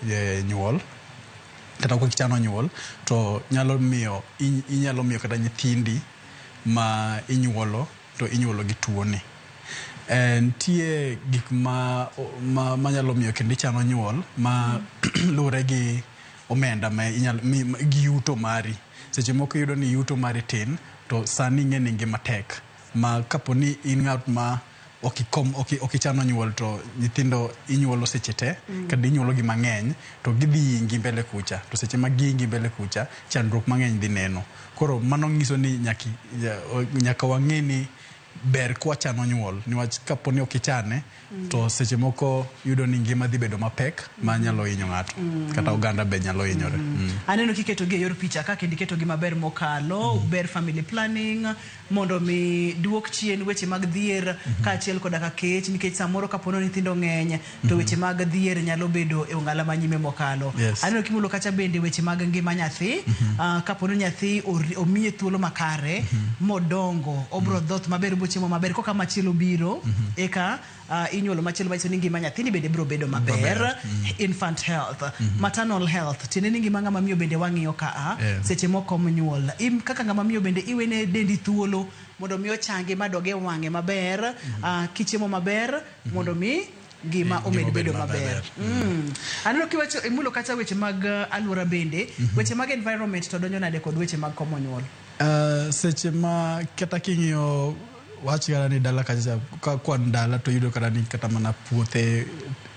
e nyuol kata kok ichano nyuol to nyalo miyo inyalo miyo kata nyithindi ma inyuolo to inyuolo gi tuoni. Eh, nitie gik ma, ma, ma nyalo miyo kendo ichano nyuol ma luwore gi omenda ma inyalo gi yuto mari. Seche moko iyudo ni yuto mari tin to sani ing'e ni ngima tek ma kapo ni in ng'at ma okikom oki, okichano nyuol to nyithindo inyuolo seche te mm. kendo inyuolo gi mang'eny to gidhi ingi mbele kucha to seche ma giingi mbele kucha chandruok mang'eny dhi neno koro mano nyiso ni nyaki, nyaka wang'e ni ber kwachano nyuol niwach kapo ni ok ichane mm. to seche moko yudo ni ngima dhi bedo mapek mm. ma nyalo hinyo ng'ato mm. kata oganda be nyalo hinyore mm. mm. aneno kiketogi e yor picha ka kendo iketogi maber mokalo mm. ber family planning mondo omi duok chien weche mag dhier mhm. kaachiel koda ka kech nikech samoro kapono nyithindo ng'eny to mhm. weche mag dhier nyalo bedo e ong'ala ma nyime mokalo aneno kimulo kacha bende weche mag ngima nyathi mhm. ah, kapono nyathi omiye thuolo makare modongo obro dhoth maber bochiemo maber koka machielo biro eka uh, inyuolo machielo manyiso ni ngima nyathini bende biro bedo maber Maber, infant health maternal health tiende ni ngima ng'ama miyo bende wang'iyo ka a Eh. seche moko mnyuol Im, kaka ng'ama miyo bende iwene dendi thuolo mondo mi ochangi madoge wang'e maber ah, kichiemo maber mondo mi ngima Eh, omed ngima bedo obed maber maber. Mm. aneno kiwacho imulo kata weche mag eh, alwora bende weche mag environment to donjo nade kod weche mag komo nyuol Uh, seche ma kata king'iyo wach kata ni dala kacha ka kwan dala to yudo kata ni kata mana puothe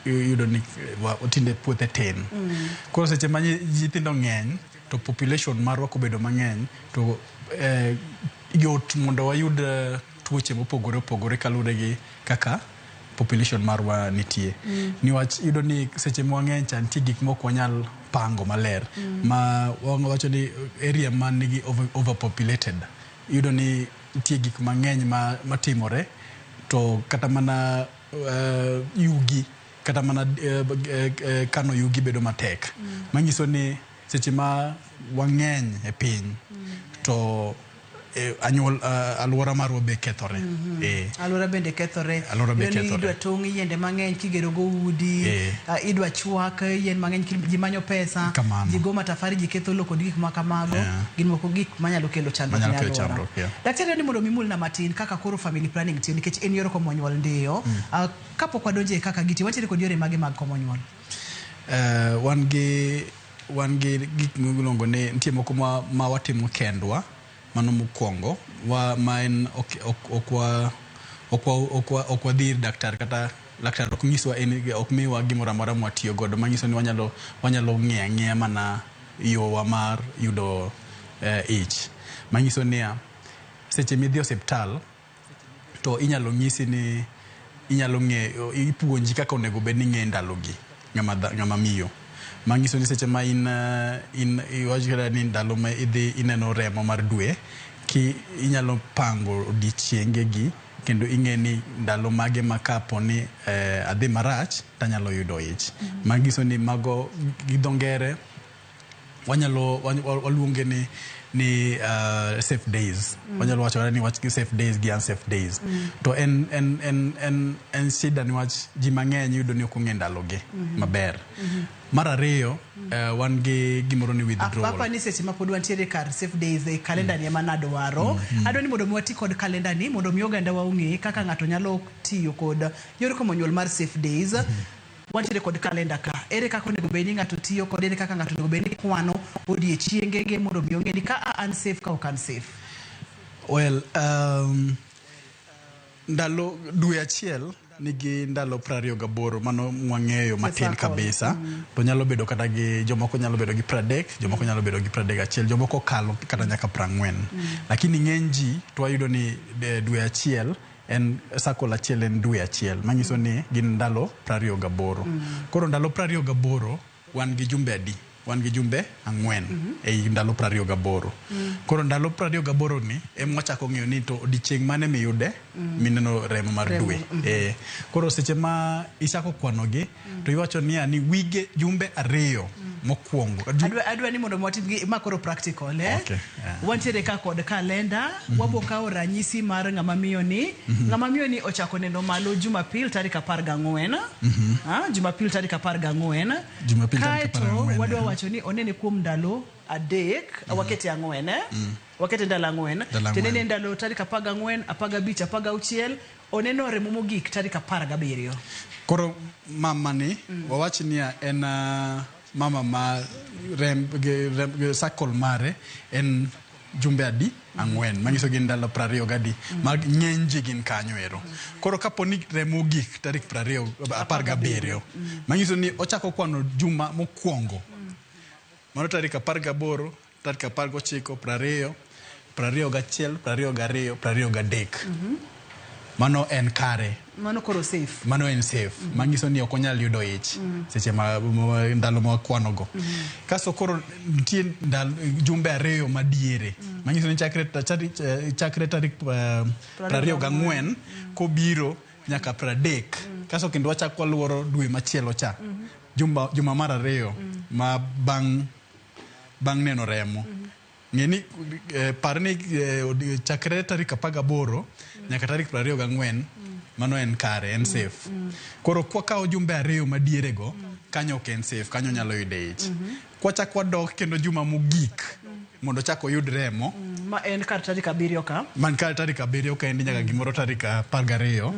yudo ni wa- tinde puothe tin koro seche ma nyi- nyithindo ng'eny to population marwa kobedo mang'eny to eh, yot mondo wayud eh, tuoche mopogore opogore kaluwore gi kaka population marwa nitie niwach yudo ni seche ma wang'eny cha nitie gik mok wanyal pango maler ma wawacho ni area man nigi over- overpopulated iyudo ni Nitie gik mang'eny ma, matimore to kata mana uh, yugi kata mana uh, uh, kano yugi bedo matek mm. manyiso ni seche ma wang'eny e piny mm. to eh, anyuol uh, aluora marwa be kethore mm -hmm. eh. aluora bende kethore aluora be kethore idwa tong' yiende mang'eny kigero go udi eh. uh, idwa twak eh, yien mang'eny kil- ji manyo pesa Kamano. ji go matafari ji ketho lowo kod gik ma kamago Yeah. gin moko gik manyalo kelo chandruok Manyalo ne kelo alwora. chandruok, yeah. daktari ni mondo mimulna matin kaka koro family planning tiyo nikech en yor komo nyuol ndiyo Ah, kapok wadonje e kaka gitiyo watiere kod yore mage mag komo nyuol Eh, wan gi wan gi gik miluongo ni nitie moko ma, ma watimo kendwa Mano mokuongo wa ma en ok ok ok wa ok wa ok wa ok wadhi ir daktar kata laktar ok nyiswa en ok miwa gimoro amora mwa tiyo godo manyiso ni wanyalo wanyalo ng'eya ng'eya mana yowa mar yudo eh, ich manyiso niya seche midhi osiptal to inyalo nyisi ni inyalo ng'e ipuonji kaka onego bed ni ing'e ndalogi ng'ama dha- ng'ama miyo manyiso ni seche ma in eh, in iwacho kata ni ndalo ma idhi ineno remo mar dwe ki inyalo pango odiechiengegi kendo ing'e ni ndalo mage ma kapo ni eh, adhi marach tanyalo yudo ich manyiso ni mago gi dho ngere wanyalo wany- wa- waluonge ni ni uh, safe days Mm. wanyalo wacho kata ni wach gi safe days gi unsafe days Mm. to en en en en en shida niwach ji mang'eny iyudo ni ok ong'e ndalogi Mhm. maber Mhm. mar ariyo eh, wan gi gimoro ni withdrawal apapa ni seche ma pod wantiere kar safe days e kalenda ni ema nadwaro Mm. adwa ni mondo mi wati kod kalenda ni mondo mi oganda wa ong'e kaka ng'ato nyalo tiyo kod yor komo nyuol mar safe days wantiere kod kalenda ka ere kaka onego bed ni ng'ato tiyo kod ere kaka ng'ato onego bed ni kwano odiechiengege mondo mi ong'e ni ka a an safe ka ok an safe well um, ndalo dwe achiel nigi ndalo prariyo gaboro mano mwang'eyo matin Sasa kod- kabisa to nyalo bedo kata gi jomoko nyalo bedo gi pradek jomoko nyalo bedo gi pradek achiel jomoko kalo kata nyaka prang'wen lakini ng'eny ji to wayudo ni eh, dwe achiel En circle achiel en dwe achiel manyiso ni gin ndalo prariyo gaboro. Koro ndalo prariyo gaboro wan gi jumbe adi? Wan gi jumbe ang'wen ei ndalo prariyo gaboro. Koro ndalo prariyo gaboro ni ema wachako ng'eyo ni to odiochieng' mane miyude mineno remo mar dwe. Koro seche ma ichako kwanogi to iwacho niya ni wige jumbe ariyo mokwongo jum- adwa, adwa ni mondo watim gi- ma koro practical eh? Okay, yeah. wantiere ka kod kalenda wabo kawo ranyisi mar ng'ama miyo ni ng'ama miyo ni ochako neno malo jumapil tarik apar gang'wen Ah, jumapil tarik apar gang'wen Jumapil tarik apar kaeto gang'wen, wadwa eh. wacho ni onene kuom ndalo adek wakete ang'wen eh? wakete ndalo ang'wen Ndalo tiende ang'wen. ni ndalo tarik apar gang'wen apar gabich apar gauchiel Oneno remo mogik tarik apar gabiriyo. Koro mama ni mm. wawach niya en uh, mama ma rem, rem, circle mare en jumbe adi ang'wen manyiso gin ndalo prariyo gadi mm. ma ng'eny ji gin kanyo ero mm. koro kapo ni remo gik tarik prariyo apar gabiriyo mm. manyiso ni ochako kwano juma mokwongo mano tarik apar gaboro Dakika apar gochiko, prariyo, prariyo gachiel, prariyo gariyo, prariyo gadek. Mano en kare. Mano koro safe. Mano en safe. Manyiso ni ok onyal yudo ich seche ma ma- ndalo ma wakwanogo. Kaso koro nitie ndalo- jumbe ariyo madiere. Manyiso ni chakre ta- chari- eh, chakre tarik eh, prariyo gang'wen kobiro nyaka pradek. Kaso kendo wachak waluoro dwe machielo cha. Jumba- Juma mar ariyo ma bang' bang' neno remo. Ng'e ni, eh, par ni eh, odi- chakre tarik 18 nyaka tarik 24 mano en kare, en safe. Koro kwakawo jumbe ariyo madierego, kanyo ok en safe, kanyo nyalo yude ich. Kwachak wadok kendo juma mogik mondo chak oyud remo, ma en kar tarik abiriyo ka man kar tarik abiriyo ka endi nyaka gimoro tarik apar gariyo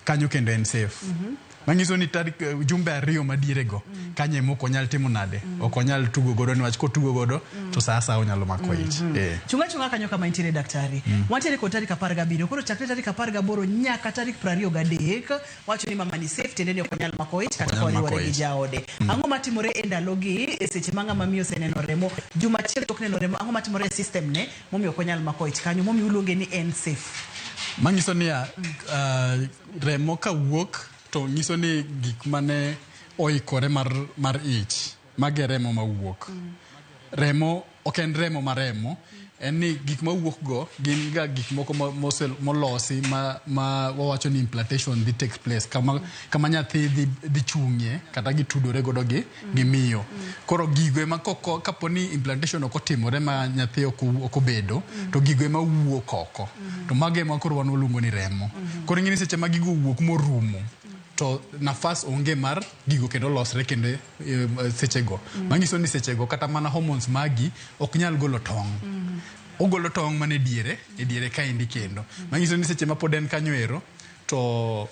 Kanyo kendo en safe. Mm -hmm. Manyiso ni tarik eh, jumbe ariyo madiere go mm -hmm. kanye mok onyal timo nade mm -hmm. ok onyal tugo godo niwach kotugo godo mm -hmm. to saa saa onyalo mako mhm. ich mm -hmm. eh. chunga chunga kanyo kama intiere daktari mm -hmm. wantiere kod tarik apar gabiriyo koro chakre tarik apar gaboro nyaka tarik prariyo gadek wacho ni mama ni safe tiende ni ok onyal mako ich kata koriwore gi jaode mm -hmm. ang'o matimore e ndalogi e seche ma ng'ama miyo oseneno remo juma achiel tok neno remo ang'o matimore e system ne Momiyo ok wanyal mako ich kanyo, momiyo uluonge ni en safe. Manyiso niya, uh, remo ka wuok to nyiso ni gik mane oikore mar, mar ich, mage remo ma wuok. Remo ok en remo ma remo, en ni gik ma wuok go gin ga gik moko ma- mose- molosi ma, ma wawacho ni implantation dhi take place kama, kama nyathi dhi, dhi chung'ie kata gitudore godo gi gi miyo koro gigo ema koko kapo ni implantation ok otimore ma nyathi ok owu- ok obedo to gigo ema wuok oko to mago ema koro wan waluongo ni remo koro ing'e ni seche ma gigo owuok morumo to nafas onge mar gigo kendo losre kendo eh, sechego manyiso ni sechego kata mana hormones magi ok nyal golo tong' ogolo tong' mana e diere e diere kaendi kendo manyiso ni seche ma pod en kanyo ero to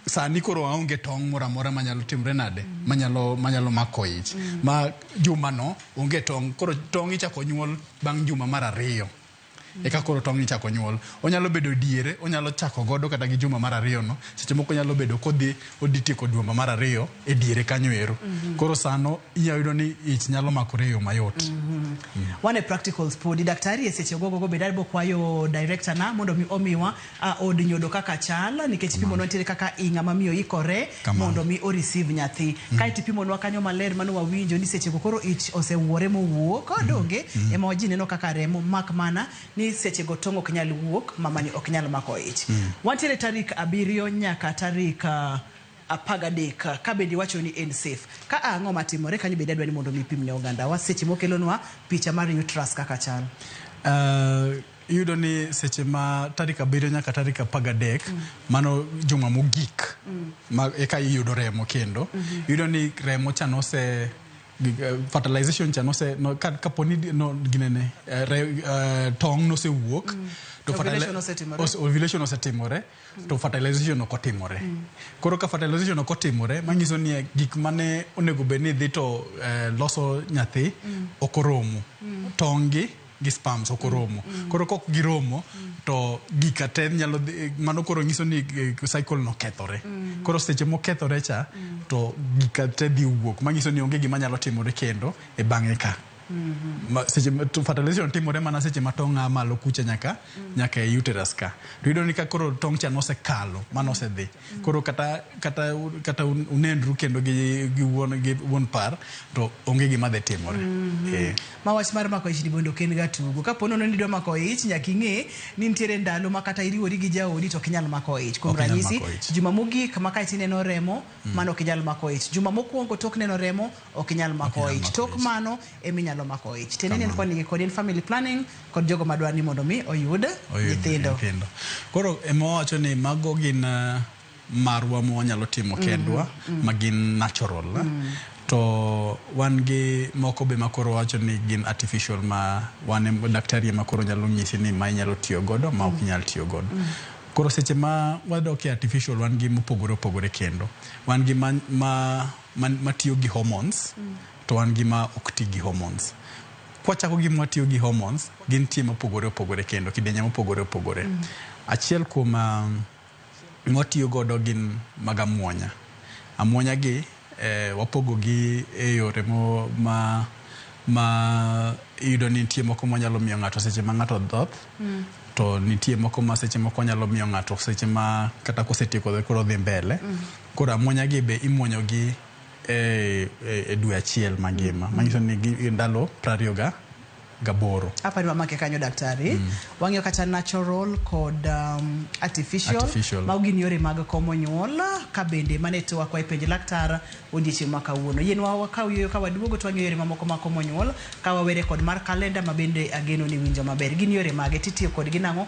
sani koro aonge tong' moro amora manyalo timre nade manyalo manyalo mako ich mm. ma juma no onge tong' koro tong' ichako nyuol bang' juma mar ariyo mm. eka koro tong' ichako nyuol onyalo bedo diere onyalo chako godo kata gi juma mar ariyo no seche moko nyalo bedo kodhi odhi tieko juma mar ariyo e diere kanyo ero mm -hmm. koro sano iyudo ni ich nyalo makore e yo mayot mm -hmm. mm. one practicals podi daktari e seche ogogogo bed adbo kwayo director na mondo mi omiwa a od nyodo kaka chal nikech ipimonwa nitiere kaka i ng'ama miyo ikore Kamano. mondo mi o receive nyathi kae to ipimonwa kanyo maler mano wawinjo ni sechego koro ich osewuore mowuok donge ema waji neno kaka remo mak mana ni sechego tong' ok nyal wuok mamani ok nyal mako ich wantiere tarik abiriyo nyaka tarik ah, apar gadek ka bende iwacho ni en safe ka a ang'o matimore kanyo bende adwa ni mondo mi ipim ne ogandawa seche mokelonwa picha mar uterus kaka chal Uh, Iyudo ni seche ma tarik abiriyo nyaka tarik apar gadek mano juma mogik ma eka iyudo remo kendo iyudo ni remo cha nose gig- eh, fertilization cha nose no- ka- kapo ni di- no ginene eh, re- eh, tong' nosewuok to fertili- Ovulation osetimore. os- ovulation osetimore to fertilization ok otimore koro ka fertilization ok otimore manyiso ni eh, gik mane onego bed ni dhi to eh, loso nyathi ok oromo tong' gi gi sperms ok oromo koro kok giromo to gika te nyalo dhi- mano koro nyiso ni eh, cycle no kethore koro seche mokethore cha to gika te dhi wuok manyiso ni onge gima nyalo timore kendo e bang'e ka Ma- seche ma- to fertilization timore mana seche ma tong' a malo kucha nyaka nyaka e uterus ka to iyudo ni ka koro tong' cha nosekalo mano osedhi Koro kata kata kata unendru kendo gi gi wuon gi wuon par to onge gima dhi timore. Mm -hmm. eh. Ma wach mar mako ich ni bondo ken ga tugo. Kapo nono ni dwa mako ich nyaka ing'e ni nitiere ndalo ma kata iriwori gi jaodi to ok inyal mako ich. Kuom ranyisi juma mogik ma ka ineno remo mm. mano ok inyal mako ich. Juma mokwongo tok neno remo ok inyal mako ich. Tok mano ema inyalo mako ich. Tiende ni en koni kodi en family planning kod jogo madwa ni mondo mi oyud nyithindo. Koro ema wacho ni mago gin eh, marwa ma wanyalo timo mm-hmm. kendwa mm. ma gin natural. Eh? Mm. To wan gi moko be makoro wacho ni gin artificial ma wan daktari ema koro nyalo nyisi ni ma inyalo tiyo godo ma ok mm. inyal tiyo godo. Mm. Koro seche ma wadok e artificial wan gi mopogore opogore kendo. Wan gi ma, ma man- matiyo gi hormones to wan gi ma ok ti gi hormones kwachako gi matiyo gi hormones gin tie mopogore opogore kendo kidenye mopogore opogore achiel kuom um, mwatiyo godo gin mag amwonya amwonya gi eh, wapogo gi e yore mo- ma ma iyudo ni nitie moko manyalo miyo ng'ato seche ma ng'ato dhoth Mm. to nitie moko ma seche moko nyalo miyo ng'ato seche ma kata kosetieko koro dhi mbele Koro amuonya gi be imuonyo gi e, e, e dwe achiel mangima mm. manyiso ni gi, ndalo prariyo ga gaboro apa ni wamake kanyo daktari mm. wang'iyo kata natural kod um, artificial, artificial. mago gin yore mag komo nyuol ka bende mane to wakwa e penj laktar odiechieng' ma kawuono yien wakaw yoyo ka waduogo to wang'iyo yore mamoko mag komo nyuol ka wawere kod mar kalenda ma bende ageno ni winjo maber gin yore mage titiyo kodgi nang'o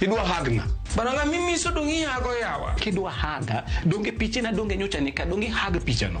idwa hagna baranga mimiso donge ihago yawa kidwa haga donge pichena donge nyocha nika donge hag pichano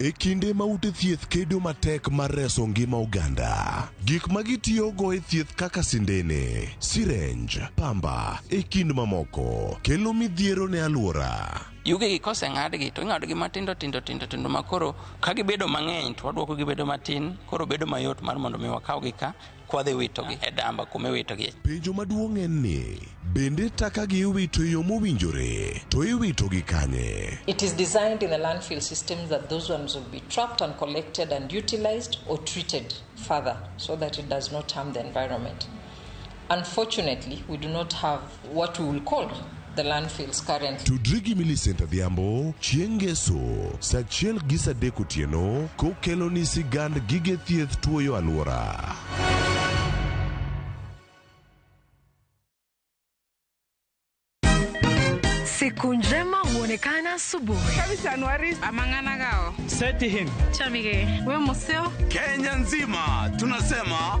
E kinde ma ute thieth kedo matek mar reso ngima oganda, gik ma gitiyogo e thieth kaka sindene, sirenj, pamba, e kind mamoko, kelo midhiero ne alwora. Yugegi koseng'adgi to ing'adogi matindo tindo tindo tindo makoro ka gibedo mang'eny to waduoko gibedo matin koro bedo mayot mar mondo mi wakawgi ka kwadhi witogi e damba kuma iwitogie. Penjo maduong' en ni, bende takagi iwito e yo mowinjore, to iwitogi kanye? It is designed in the landfill systems that those ones will be trapped and collected and utilized or treated further so that it does not harm the environment. Unfortunately, we do not have what we will call the landfills currently. Tudri gi Millicent Adhiambo chieng' Ngeso saa achiel gi saa adek otieno kokeloni sigand gige thieth tuoyo alwora. Siku njema huonekana asubuhi. Kenya nzima tunasema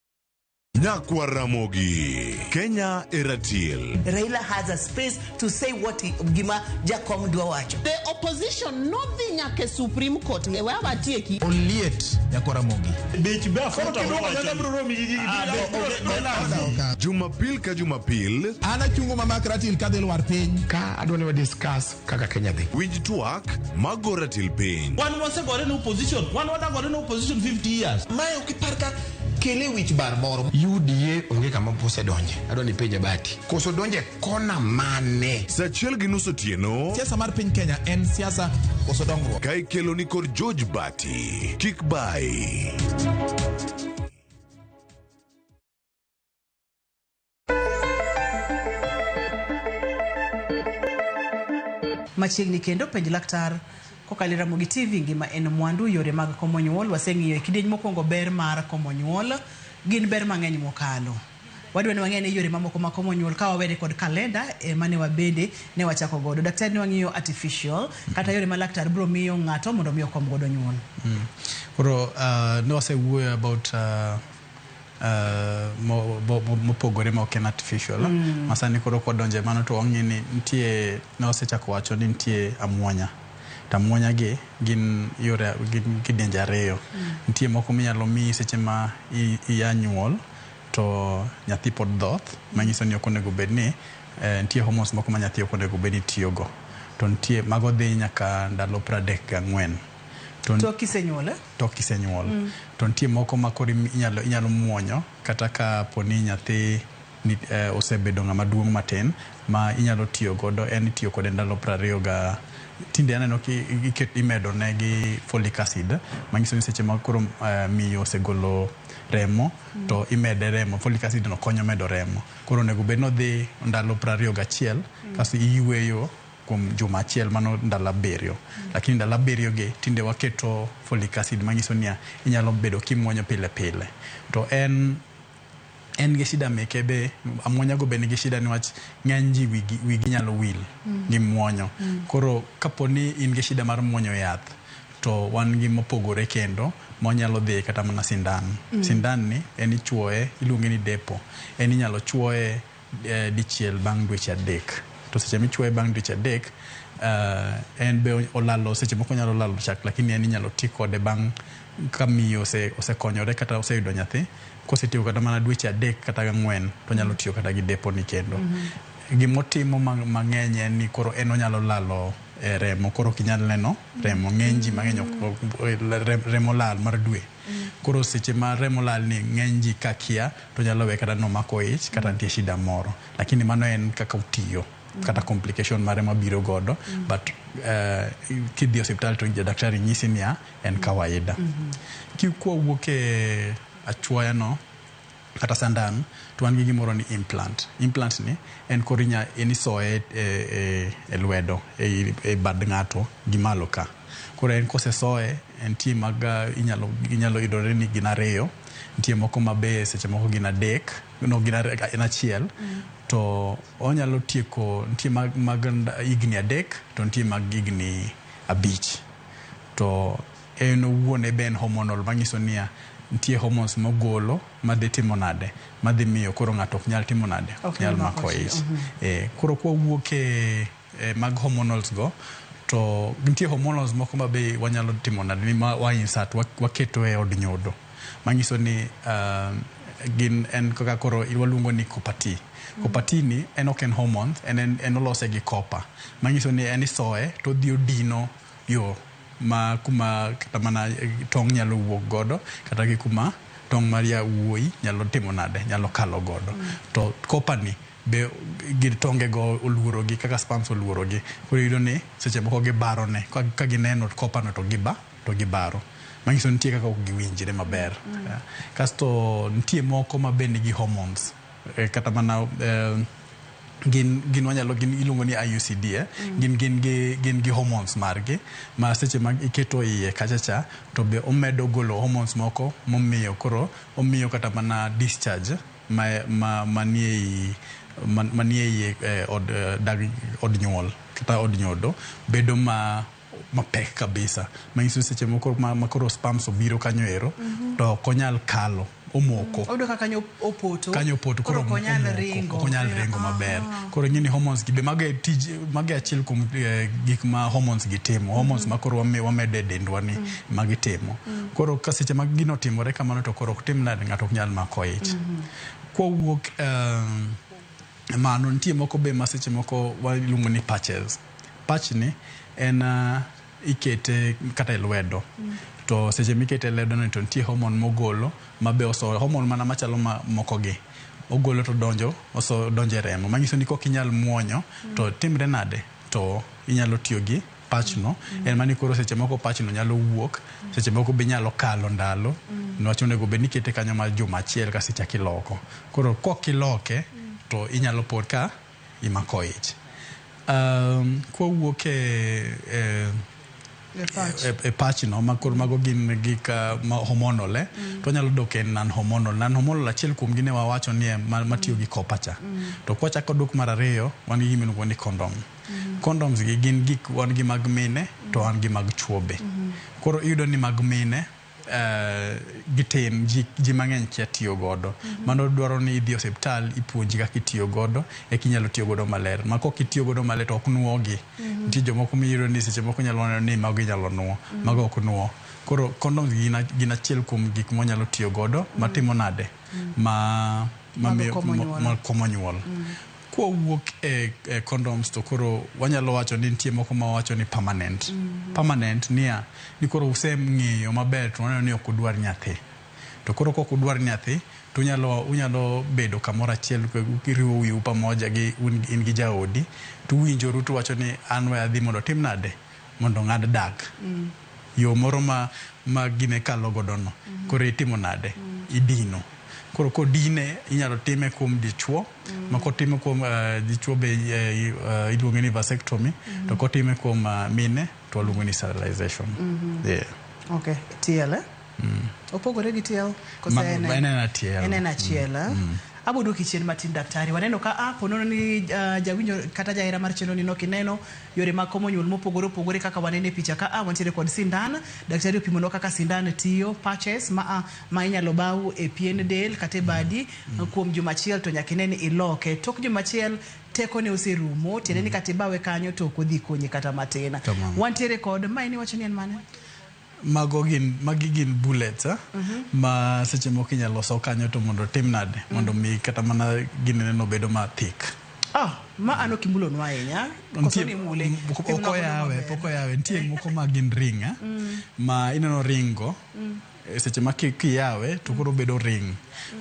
Nyakwa Ramogi, Kenya Eratil. Raila has a space to say what he, gima Jakom dwa wacho. The opposition nodhi nyaka e Supreme Court e we awatieki. Oliet Nyakwa Ramogi. Bech be aforo to Jumapil ka Jumapil. An achungo mamak ratil kadhi lwar piny. Ka adwa ni wa discuss kaka Kenya dhi. Winj twak ma go ratil piny. Wan wasegore ne opposition, wan wadagore ne opposition 50 years. Mae ok ipar ka kele wich bar moro. UDA onge kama pose donje. Adwa ni penje bati. Koso donje kona mane? Sa achiel gi nus otieno. Siasa mar piny Kenya en siasa koso dongruok. Ka ikelo ni kod George Bati. Kik bai. Machiegni kendo penj laktar. Kokalo e Ramogi TV, ngima en mwandu, yore mag komo nyuol waseng'iyo e kidieny mokwongo ber mar komo nyuol. Gin ber mang'eny mokalo. Wadwa ni wang'e ane yore mamoko mag komo nyuol ka wawere kod kalenda e mane wabende ne wachako godo. Daktari ne wang'iyo artificial kata yore ma laktar biro miyo ng'ato mondo mi okom godo nyuol. Koro uh, ne wasewuoyo about uh, Uh, mopogore ma ok en artificial mm. masani koro kwadonje mano to wang'e ni nitie ne wasechako wacho ni nitie amuonya to amuonya gi gin yore gin kidenje ariyo mm. nitie moko minyalo miyi seche ma iya nyuol to nyathi pod dhoth manyiso ni ok onego bed ni eh, nitie homos moko ma nyathi ok onego bed ni tiyogo to nitie mago dhi nyaka ndalo pradek gang'wen To- Tok kisenyuole. tok kisenyuol to nitie moko ma koro im- inyalo, inyalo muonyo kata ka po ni nyathi ni, eh, osebedo ng'ama duong' matin ma inyalo tiyo godo en itiyo kode ndalo prariyo ga tinde aneno ki iket imedo ne gi folic acid manyiso ni seche ma koro eh, miyo osegolo remo to imede remo folic acid no konyo medo remo koro onego bed ni odhi ndalo prariyo gachiel kasto iyueyo kuom juma achiel mano ndalo abiriyo lakini ndalo abiriyo gi tinde waketo folic acid manyiso niya inyalo bedo kimuonyo pile pile to en en gi shida meke be amuonya go be nigi shida niwach ng'eny ji wigi, wigi nyalo wil mm. gi muonyo mm. koro kapo ni in gi shida mar muonyo yath to wan gi mopogore kendo monyalo dhi kata mana sindan mm. sindan ni en ichuoye iluonge ni depo en inyalo chuoye eh, dichiel bang' dweche adek to seche michuoye bang' dweche adek eh, en be olalo seche moko nyalo lalo chak lakini en inyalo ti kode bang' ka miyo ose- osekonyore kata oseyudo nyathi kosetiyo kata mana dweche adek kata gang'wen to nyalo tiyo kata gi deponi kendo gimotimo ma- mang'eny en ni koro en onyalo lalo eh, remo koro ok inyal neno remo ng'eny ji mang'eny ok- ok- rem- remo lal mar dwe Koro seche ma remo lal ni ng'eny ji ka kia to nyalo we kata nomako ich kata nitie shida moro. Lakini mano en kaka otiyo kata complication mare ma biro godo but eh, kidhi e osiptal to jadaktari nyisi niya en kawaida. Ki- Kwawuok e achuoya no Kata sandan to wan gi gimoro ni implant. Implant ni en koro inya en isoye e e e lwedo ei e bad ng'ato gi malo ka. Koro en kosesoye entie mag inyalo inyalo yudore ni gin ariyo, nitie moko ma be seche moko gin adek no gin are en achiel. To onyalo tieko nitie mag mag higni adek to nitie mag higni abich. To. En owuon e Ben hormonal manyiso niya nitie hormones mogolo madhi timo nade madhi miyo koro ng'ato ok nyal timo nade ok nyal mako ich. Ee, koro kwa wuok e, e mag hormonals go to nitie hormonals moko ma be wanyalo timo nade ni ma wa insert wa, waketo e od nyodo manyiso ni um, gin en kaka koro waluongo ni copper T. Copper T ni en ok en hormones, en, en, en olose gi copper manyiso ni en isoye to odhi odino yo ma kuma kata mana tong' nyalo wuok godo kata gi kuma tong' mar yawuoyi nyalo timo nade, nyalo kalo godo. To copper ni be gir tonge go oluoro gi kaka sperms oluoro gi koro iyudo ni seche moko gibaro ne ka gineno copper no to giba to gibaro. Manyiso ni nitie kaka ok giwinjre maber. Kasto nitie moko ma be nigi hormones. Eh, kata mana eh, gin gin wanyalo gin iluongo ni IUCD eh? mm. gin gin gi gin gi hormones margi ma seche ma iketo iye kacha cha to be omedo golo hormones moko momiyo koro omiyo kata mana discharge ma ma manie i manie iye eh, od eh, dag od nyuol kata od nyodo bedo ma mapek kabisa manyiso ni seche moko ma, ma koro spams obiro kanyo ero mm -hmm. to ok onyal kalo omoko oyudo ka kanyo opoto kanyo opoto koro onyal ringo onyal ringo maber ah. koro ngini hormones gi be mago e tij mago e achiel kuom eh, gik ma hormones gi timo mm-hmm. hormones ma koro wame wamedo e dendwa ni mm. ma gitimo mm. koro ka seche ma gino timore kamano to koro ok tim nade ng'ato ok nyal mako ich mm-hmm. kwawuok um, mano nitie moko be ma seche moko waluongo ni patches Patchni en ikete kata e lwedo to seche mikete ledoni to nitie homon mogolo ma be oso homon mana machalo ma mokogi ogolo to donjo oso donjo e remo manyiso ni kok inyal muonyo to timre nade to inyalo tiyo gi patchno en mani koro seche moko patchno nyalo wuok seche moko be inyalo kalo ndalo niwach onego bed ni ikete kanyo mar juma achiel kasto ichak iloko koro kok iloke to inyalo pod ka imako ich. Um, kwa wuok e, e E pach. e, e pach no ma koro mago gin gik ah, ma hormonal eh? to wanyalo dok e non hormonal non hormonal achiel kuom gine wawacho ni e ma- matiyo gi copper cha to kwachako dok mar ariyo wan gi gima iluongo ni condom condoms gi gin gik wan gi mag mine to wan gi mag chwobe koro iyudo ni mag mine Eh, gitin ji, ji mang'eny kia tiyo godo mm -hmm. mano dwaro ni idhi osiptal ipuonji kaka itiyo godo eka inyalo tiyo godo maler ma kok itiyo godo maler to ok nuogi mm -hmm. nitie jomoko miyudo ni seche moko nyalo neno ni mago inyalo nuo mm -hmm. mago ok nuo koro condoms gin, gin achiel kuom gik mwanyalo tiyo godo mm -hmm. matimo nade mm -hmm. ma, ma, ma, ma, ma komo nyuol mm -hmm. Kwawuok e, e condoms to koro wanyalo wacho ni nitie moko ma wacho ni permanent. Mm -hmm. Permanent niya, ni koro useng'eyo maber to waneno ni ok udwar nyathi. To koro kok udwar nyathi to unyalo unyalo bedo kamoro achiel kiriwo wiu pamoja gi in gi jaodi to uwinjoru to wacho ni an we adhi mondo tim nade mondo ng'ad dak yo moro ma ma gine kalo godo no koro itimo nade idino koro kodine inyalo time kuom dichuo ma kotime kuom eh, dichuo be eh, i- eh, iluonge ni vasectomy to kotime kuom ah, mine to waluongo ni sterilization yeah. Okay, tiele. Opogore gi tielo kose Ma- en ma en en achiel. En en achiel. ah. Abo duoki chien matin daktari. Waneno ka a ponono ni ah, jawinjo kata jahera mar chenro ni nok ineno yore mag komo nyuol mopogore opogore kaka waneno e picha ka a wantiere kod sindan. Daktari opimonwa kaka sindan tiyo patches ma a ma inyalo baw e pien del kata e badi kuom juma achiel to nyaka ine ni iloke. Tok juma achiel teko ne oserumo tiende ni kata ibawe kanyo to ok odhi konyi kata matin. Tamam. Wantiere kod ma en iwacho ni en mane? Mago gin, magi gin bullets eh? ma seche moko inyalo loso kanyo to mondo otim nade mondo mi kata mana ginene no bedo ma thick. Ah, ma ano kimulo nwa ahinya. Koso ni mule. Pok Timna godo oyawe, maber. pok oyawe. Nitie moko ma gin ring eh? ma ineno ring go eh, seche ma ki- kiyawe to koro bedo ring.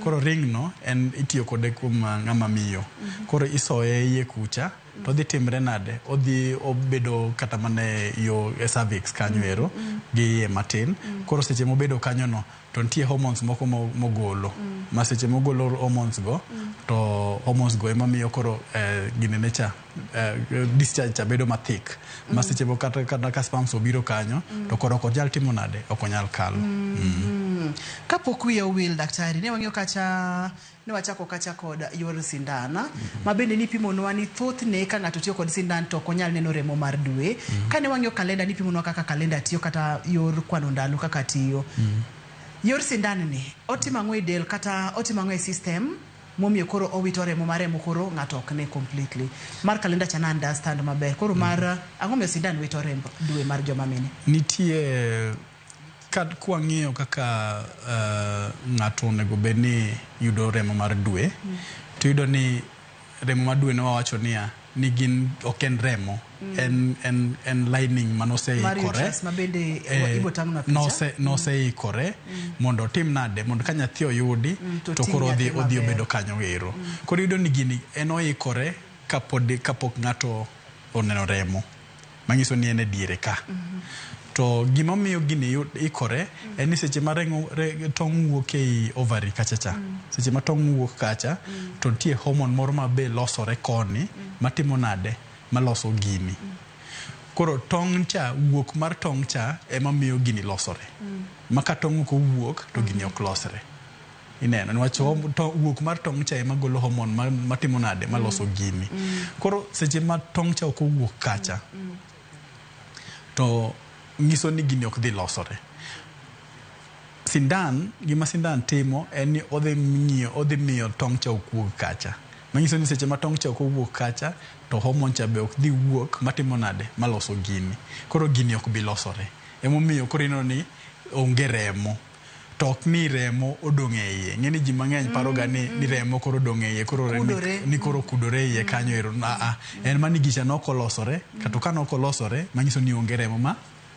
Koro ring no en itiyo kode kuom ah, ng'ama miyo. Koro isoye iye kucha to odhi timre nade? Odhi obedo kata mana e yo e cervix kanyo ero gi iye matin. Koro seche mobedo kanyono to nitie hormones moko mo- mogolo ma seche mogolo hormones go to hormones go ema miyo koro eh, ginene cha eh, discharge cha bedo ma thick ma seche moko kata kata ka sperms obiro kanyo to koro ok onyal timo nade ok onyal kalo. Mm. Kapok wiya owil daktari, ne wang'iyo kacha Ne wachako kacha kod yor sindan, ma bende nipimonwa ni thothne ka ng'ato tiyo kod sindan to ok onyal neno remo mar dwe. Kane wang'iyo kalenda nipimonwa kaka kalenda tiyo kata yor kwano ndalo kaka tiyo. Yor sindan ni otimo ang'o e del kata otimo ang'o e system momiyo koro owito remo ma remo koro ng'ato ok ne completely. Mar kalenda cha na understand maber. Koro mar ang'o momiyo sindan wito remb dwe mar joma mine. Nitie Ka kwang'iyo kaka uh, ng'ato onego bed ni yudo remo mar dwe mm. to yudo ni remo mar dwe ne wawacho niya ni gin ok en remo mm. en, en, en lining ma noseikore eh, nose, noseikore mm. mm. mondo otim nade mondo ka nyathi oyudi mm, to, to koro odhi odhi obedo kanyo ero mm. koro yudo ni gini en oikore kapod kapok ng'ato oneno remo manyiso ni en e diere ka. To gima omiyo gini yud- ikore en ni seche ma remo re, tong' wuok ei ovary kacha cha seche ma tong' wuok kacha to nitie hormone moro ma be losore koni matimo nade maloso gini koro tong' cha wuok mar tong' cha ema miyo gini losore ma ka tong' ok owuok to gini ok losre Ineno niwach mm. to wuok mar tong' cha ema golo homon matimo nade mm. maloso mm. gini mm. koro seche ma tong' cha ok owuok kacha mm. mm. to nyiso ni gini ok dhi losore sindan gima sindan timo en ni odhi ng'iyo odhi miyo tong' cha ok wuog kacha manyiso ni seche ma tong' cha ok owuok kacha to homon cha be ok dhi wuok matimo nade maloso gini koro gini ok bi losore emomiyo koro ineno ni onge remo to ok ni remo odong' e iye. Ing'e ni ji mang'eny paroga ni, ni remo koro odong' e iye, koro remo Kudore. ni koro okudore e iye kanyo ero. Aa, en ma ni gicha ne ok olosore, kato ka ne ok olosore, manyiso ni onge remo ma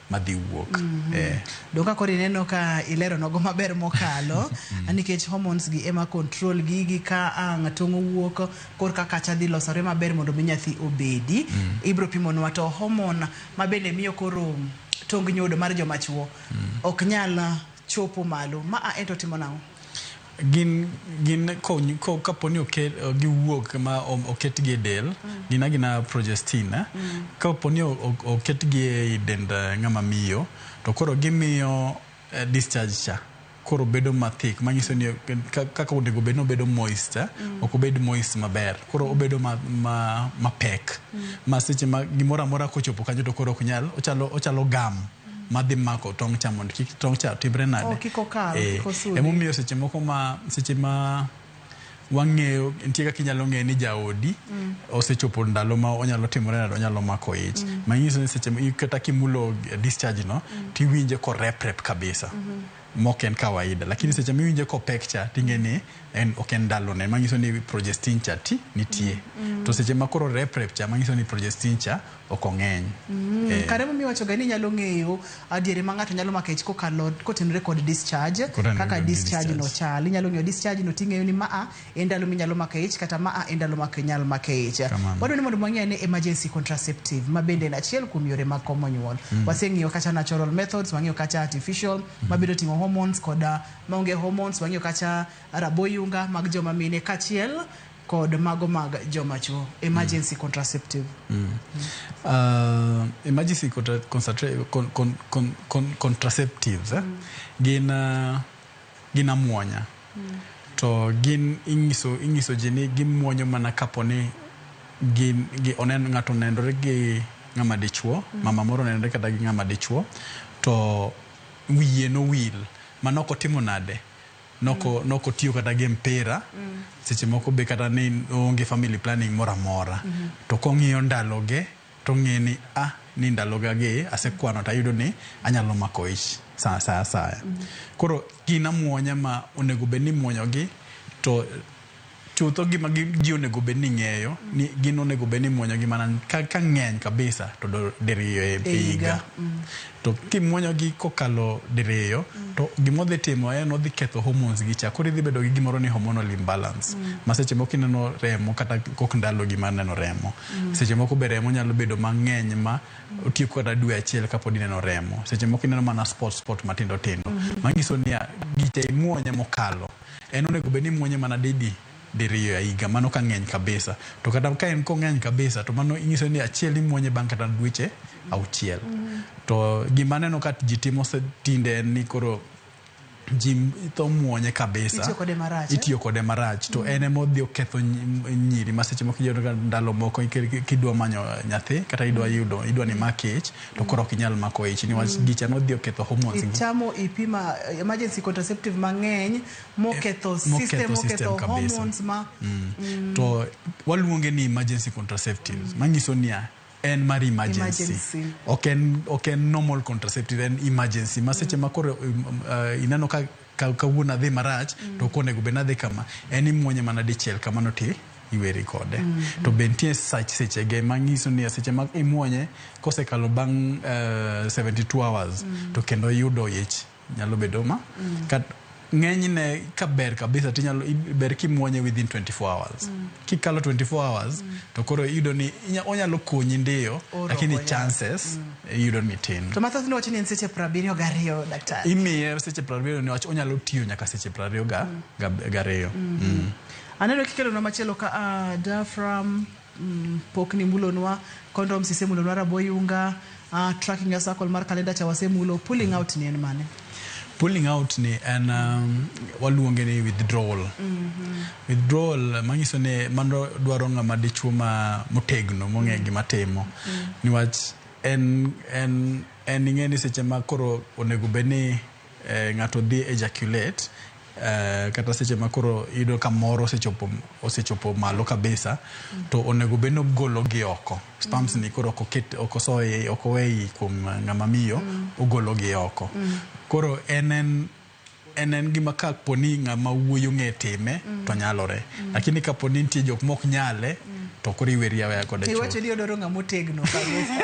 madhi wuok. Eh. Do ka koro ineno ka ilero nogo maber mokalo a nikech hormones gi ema control gigi ka ang' tong' owuok kor ka kacha dhi losore maber mondo mi nyathi obedi. Ibro pimonwa to hormone ma bende miyo koro tong nyodo mar joma chuo. ok nyal chopo malo. Ma a ento timo nang'o? Gin, gin kony, ko, kapo ni oket, giwuok ma o- oketgi e del mm. gin agina progestin eh? mm. kapo ni o- o- oketgi e i dend eh, ng'ama miyo to koro gimiyo eh, discharge cha koro bedo mathik manyiso ni kaka onego bed ni obedo moist eh? mm. ok obed moist maber koro mm. obedo ma, ma, mapek mm. ma seche ma gimoro amora kochopo kanyo to koro ok nyal ochalo, ochalo gam madhi mako tong' cha mondo kik tong' cha timre nade oh, eh, emomiyo seche moko ma seche ma wang'eyo nitie kaka inyalo ng'eyo ni jaodi mm. osechopo ndalo ma onyalo timore nade onyalo mako ich mm. manyiso ni seche kata kimulo discharge no mm. tiwinje koreprep kabisa mm-hmm. mok en kawaida lakini seche miwinje kopek cha ting'e ni en ok en ndalone manyiso ni progestin cha ti nitie mm. mm. to seche ma koro reprep cha manyiso ni progestin cha ok ong'eny. Mm, eh. Kare mimi wacho gani nyalo ng'eyo adiere ma ng'ato nyalo makech kokalo kotenore kod discharge kaka discharge no chal inyalo ng'eyo discharge no ting'eyo ni maa e ndalo minyalo makech kata maa e ndalo mak nyal makech wadwa ni mondo mwang'e ne emergency contraceptive ma bende en achiel kuom yore mag komo nyuol mm. waseng'iyo kata natural methods wang'iyo kata artificial mm. ma biro ting'o hormones koda maonge hormones wang'iyo kata raboyunga mag joma mine kachiel kod mago mag joma chuo emergency mm. contraceptive mm. Uh, emergency contra concentra- con con con con contraceptives eh? mm. gin uh, gin amuonya mm. to gin inyiso inyiso ji ni gimuonyo mana kapo ni gin gi onen ng'ato onenore gi ng'ama dichuo mm. mama moro onenore kata gi ng'ama dichuo to wiye nowil manok otimo nade Noko noko tiyo kata gi mpira seche moko be kata ni onge family planning moro amora to kong'iyo ndaloge tong'e ni ah ni ndaloga gi asekwano tayudo ni anyalo mako ich sa sa asaya koro gin amuonya ma onego bed ni imuonyogi to Chutho gima ji onego bed ni ng'eyo ni gin onego bed ni imuonyogi mana ka ng'eny kabisa to diriyo e higa. To kimuonyogi kokalo diriyo to gima odhi timo en odhi ketho hormones gi cha koro idhi bedo gi gimoro ni hormonal imbalance ma seche moko ineno remo kata kok ndalogi mar neno remo. Seche moko be remo nyalo bedo mang'eny ma otieko kata dwe achiel kapod ineno remo. Seche moko ineno mana spot spot matindo tindo. Manyiso niya, gicha imuonye mokalo. en onego bed ni muonye mana didi diriyo a higa mano ka ng'eny kabisa to kata ka en kong'eny kabisa to mano inyiso ni achiel imuonye bang' kata dweche auchiel mm-hmm. to gima neno ka ji timo tinde en ni koro ji tho muonye kabisa itiyo kode eh? marach to mm. en ema odhi oketho nyiri ma seche moko iyudo ka ndalo moko kidwa manyo nyathi kata idwa mm. yudo idwa ni mak ich to koro ok inyal mako ich niwach mm. gicha nodhi oketho hormones gi chamo ipi e ma emergency contraceptive mang'eny moketho eh, system moketho hormones ma mm. Mm. to waluonge ni emergency contraceptives mm. manyiso niya en mar emergency ok en normal contraceptive en emergency ma seche ma koro um, uh, ineno ka Ka kawuono adhi marach to ok onego bed ni adhi kama, en imuonye mana dichiel kamano ti iweri kode. To be nitie sach sechege ma ng'iso ni seche ma imuonye kosekalo bang' eh, 72 hours to kendo iyudo ich nyalo bedo ma kat ng'enyne ka ber kabisa to inyalo i- ber kimuonye within 24 hours. Kikalo 24 hours to koro iyudo ni inya- onyalo konyi ndiyo Oro lakini oya. chances yudo ni tin. To mathoth nowacho ni en seche prabiriyo gariyo daktari. Imiye seche prabiriyo niwach onyalo tiyo nyaka seche prabiriyo ga, mm. ga, gariyo. Mm -hmm. mm. Aneno kikelo na machielo ka uh, diaphragm mm, pok ni mulonwa condom sise mulonwa raboyunga uh, tracking ya circle mar kalenda cha wasemulo pulling out ni en mane? Pulling out ni en um, waluonge ni withdrawal. Mm-hmm. Withdrawal manyiso ni mano dwaro ng'ama dichuo ma motegno mong'e mm. gima timo. Mm. Niwach en en en ing'e ni seche ma koro onego bed ni eh, ng'ato dhi ejaculate Uh, kata seche ma koro iyudo ka moro osechopo osechopo malo kabisa mm. to onego bed ni ogolo gi oko spams mm. ni koro ok oket ok osoye ok oweyi kuom ng'ama miyo mm. ogolo gi oko mm. koro en en en en gima ka po ni ng'ama wuoyo ng'e time mm. to nyalore mm. lakini ka po ni nitie jok mok nyale mm. to koro iweri aweya kode chuth iwacho ni odoro ng'ama otegno kabisa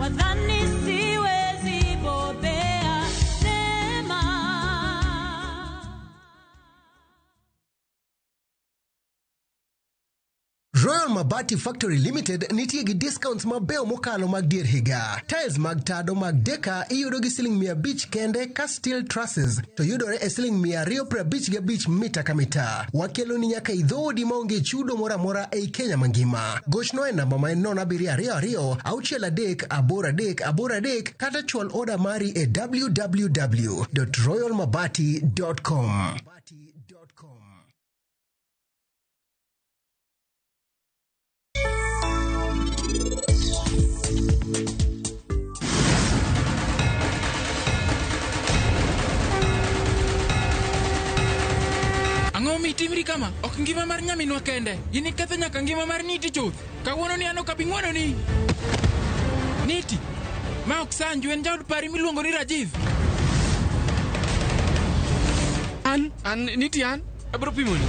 Wadhani siwezi bobea neema. Royal Mabati Factory Limited nitie gi discounts mabeyo mokalo mag dier higa. Tiles mag tado mag Deka iyudo gi siling 500 kende kas steel trusses to yudore e siling mia ariyo piero abich gi abich mita ka mita wakeloni nyaka e dhoodi maonge chudo moro amora ei kenya mangima gochnwa e namba ma en nono abiriyo ariyo ariyo auchiel adek aboro adek aboro adek kata chwal oda mari e www royalmabati com Ang'o mi itimri kama? Ok ngima mar nyaminwa kende. In iketho nyaka ngima mar Niti chuth. Kawuono ni an ok abi ng'wononi. Niti, ma ok sanju en jaod pari miluongo ni Rajiv. An, an, Niti an, abiro pimoni.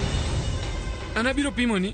An abiro pimoni.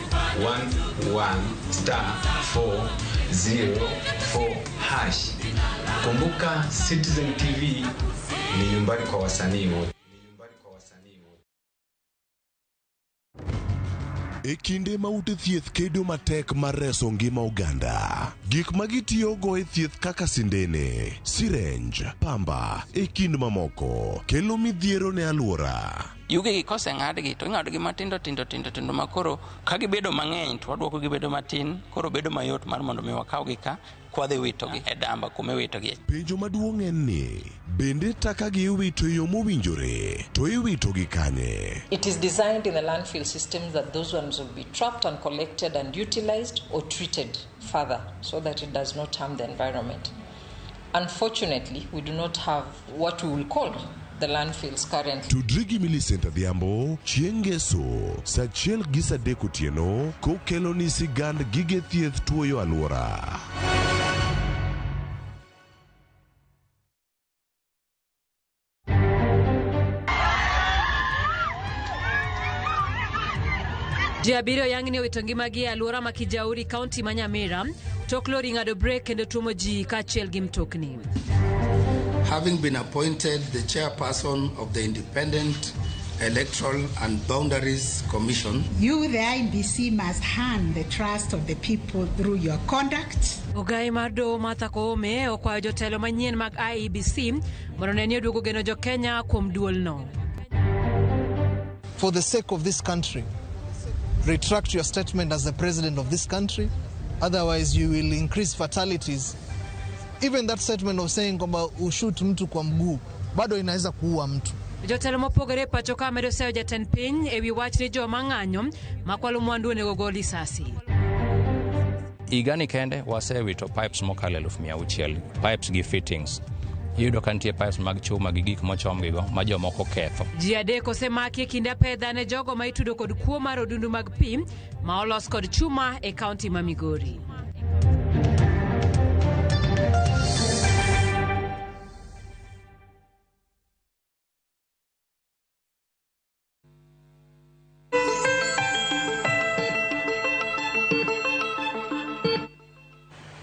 11-star-404 hash. Kumbuka Citizen TV ni nyumbani kwa wasanii wote. E kinde ma ute thieth kedo matek mar reso ngima oganda, gik ma gitiyogo e thieth kaka sindene, sirenj, pamba, e kind mamoko, kelo midhiero ne alwora. Yugegi koseng'adgi to ing'adogi matindo tindo tindo tindo ma koro ka gibedo mang'eny to waduoko gibedo matin koro bedo mayot mar mondo mi wakawgi ka kwadhi witogi e damba kuma iwitogie. Penjo maduong' en ni, bende takagi iwito e yo mowinjore, to iwitogi kanye? It is designed in the landfill system that those ones will be trapped and collected and utilized or treated further so that it does not harm the environment. Unfortunately, we do not have what we will call the landfills currently. Tudri gi Millicent Adhiambo chieng' Ngeso saa achiel gi saa adek otieno kokeloni sigand gige thieth tuoyo alwora. Ji abiriyo yang'ni owito ngimagi e alwora ma Kijauri, kaunti ma Nyamira. Tok lori ng'ado brek kendo tuomo ji kaachiel gi mtokni. Having been appointed the chairperson of the Independent Electoral and Boundaries Commission, You, the IBC, must earn the trust of the people through your conduct, Ogai mar doho Martha Koome okwayo jotelo manyien mag IEBC Mondo ne ni oduogo geno jo Kenya kuom duolno. For the sake of this country, retract your statement as the president of this country. Otherwise, you will increase fatalities. Even that statement of saying kwamba ushut mtu kwa mguu bado inaweza kuua mtu. Jotelo mopogore e pacho ka medo sayo jatend piny ewi wach ni joma ng'anyo makwalo mwandu onego gol lisasi. Higani kende wasewito pipes mokalo eluf mia auchiel pipes gi fittings iyudo ka nitie pipes mag chuma gi gik mochomgigo ma jomoko ketho. Ji adek osemaki e kinde apedha ne jogo ma itudo kod kuo mar odundu mag pi ma olos kod chuma e kaunti ma Migori.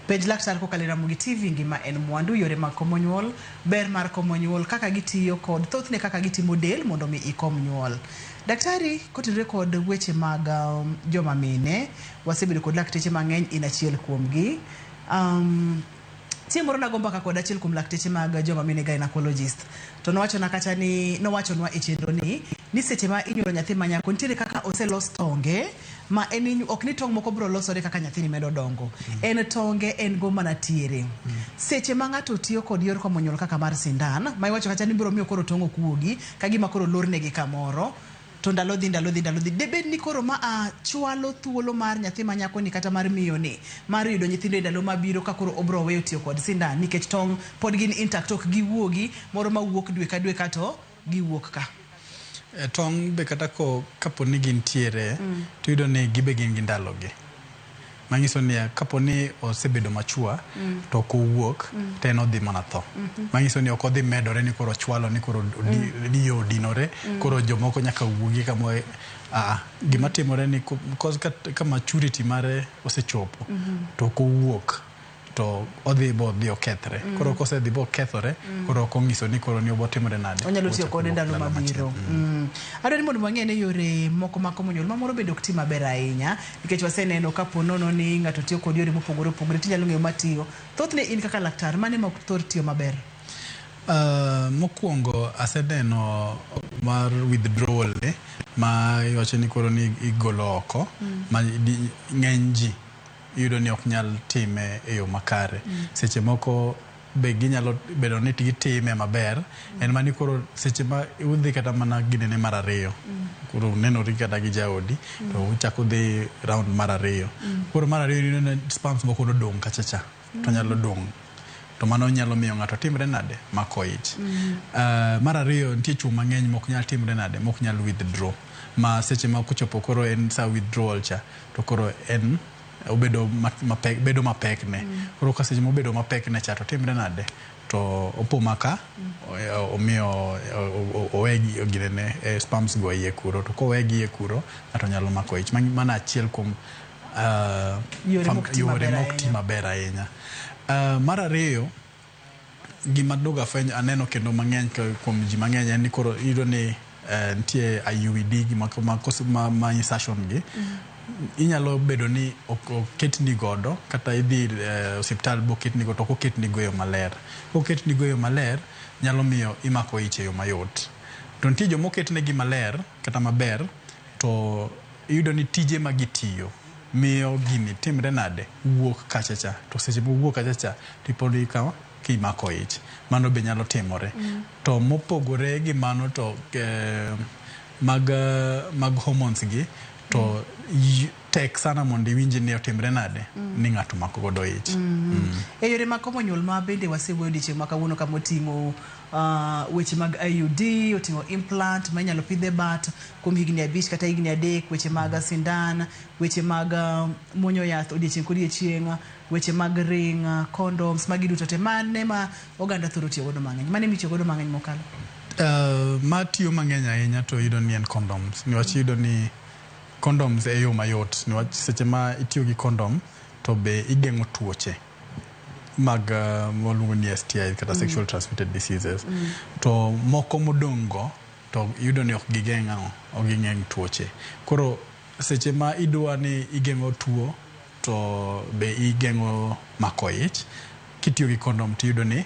Pej laktar kokalo Ramogi TV ngima en mwandu yore mag komo nyuol, ber mar komo nyuol, kaka gitiyo kod thothne kaka gitimo del mondo mi ikom nyuol. Daktari kotenore kod weche mag um, joma mine, wasebedo kod lakteche mang'eny in achiel kuomgi. Um, Chieng' moro nago mbaka kod achiel kuom lakteche mag joma mine gynecologist to nowachona kacha ni nowachonwa e chenro ni ni seche ma inyuolo nyathi ma nyako nitiere kaka oselos tonge ma en inyu- ok ni tong' moko biro losore kaka nyathini medo dongo en tonge en go mana tiere seche ma ng'ato tiyo kod yor komo nyuol kaka mar sindan ma iwacho kacha ni biro miyo koro tong' ok wuogi ka gima koro lornegi kamoro To ndalo dhi, ndalo dhi, ndalo dhi. Debed ni koro ma a chwalo thuolo mar nyathi ma nyako ni kata mar miyo ni mar yudo nyithindo e ndalo ma biro ka koro obro weyo tiyo kod sindan nikech tong' pod gin intact ok gi wuogi moro ma wuok dwe ka dwe ka to gi wuok ka. Tong' be kata ko kapo ni gin tiere mm. to yudo ni gibe gin gi ndalo gi. Manyiso ni kapo ni osebedo machua to ok owuok to en odhi mana tho. Manyiso ni ok odhi medore ni koro ochwalo ni koro iye odinore koro jomoko nyaka wuogi kamo a a. Gima timore ni cause ka maturity mare osechopo to ok owuok. to odhi bo dhi okethre mm. koro kose dhi bo kethore mm. koro ok onyiso ni koro ni obo timore nade onyalo tiyo kode ndalo mabiro mm. mm. adwaro ni mondo wang'e ne yore moko ma komo nyuol mamoro bedo ok ti maber ahinya nikech waseneno ka po nono ni ng'ato tiyo kod yore mopogore opogore tinyalo ng'eyo matiyo thothne in kaka laktar mane ma ok thor tiyo maber Uh, mokwongo aseneno mar withdrawal ni ma iwacho ni koro ni igolo oko mm. ma ng'eny ji iyudo ni ok nyal time e yo makare. Seche moko be ginyalo bedo ni gitime maber, en mana ni koro seche ma udhi kata mana ginene mar ariyo, koro unenori kata gi jaodi, to uchako udhi round mar ariyo. Koro mar ariyo iyudo ni sperms moko nodong' kacha cha, to nyalo dong'. To mano nyalo miyo ng'ato timre nade? Mako ich. Ah, Mar ariyo, nitie chwo mang'eny mok nyal timre nade? Mok nyal withdraw. Ma seche ma kochopo koro en sa withdrawal cha, to koro en obedo mapek, bedo mapek ne. Mm. Koro ka seche mobedo mapek ne cha to timre nade? To opo maka mm. omiyo owe gine ne e, sperms go iye kuro to kowe gi iye kuro ng'ato nyalo mako ich. Mano achiel kuom uh, yore mok ti maber ahinya. Uh, mar ariyo Gima duogo afwenyo aneno kendo mang'eny kuom ji mang'eny en ni koro iyudo ni eh, nitie IUED gi ma, ma, kos- ma, ma insertion gi inyalo bedo ni ok- oketni godo kata idhi ir, eh, osiptal boketni godo to ok oketni go e yo maler koketni go e yo maler nyalo miyo imako ich e yo mayot to nitie joma oketnegi maler kata maber to iyudo ni tije ma gitiyo miyo gini timre nade wuok kachacha to seche mowuok kachacha tipod ikawo kimako ich mano be nyalo timore mm. to mopogore gi mano to eh, mag, eh, mag hormones gi to mm. Tek sana mondo iwinji ni otimre nade ni ng'ato omako godo ich. E yore mag komo nyuol ma bende wasewuoyo odiechieng' ma kawuono kama oting'o ah, weche mag IUD, oting'o implant ma inyalo pidh e bat kuom higni abich kata higni adek, weche mag sindan, weche mag ah, muonyo yath odiechieng' kodiechieng', weche mag ring, ah, condoms, magi duto te. Mane ma oganda thoro tiyo godo mang'eny? Mane mitiyo godo mang'eny mokalo? Uh, ma tiyo mang'eny ahinya to yudo ni en condoms. Niwach yudo ni condoms e yo mayot niwach seche ma itiyo gi condom to be igeng'o tuoche mag uh, waluongo ni STIs kata mm. sexual transmitted diseases mm. to moko modong' go to yudo ni ok gigeng' ang'o ok gigeng' tuoche koro seche ma idwa ni igeng'o tuo to be igeng'o mako ich kitiyo gi kondom tiyudo ni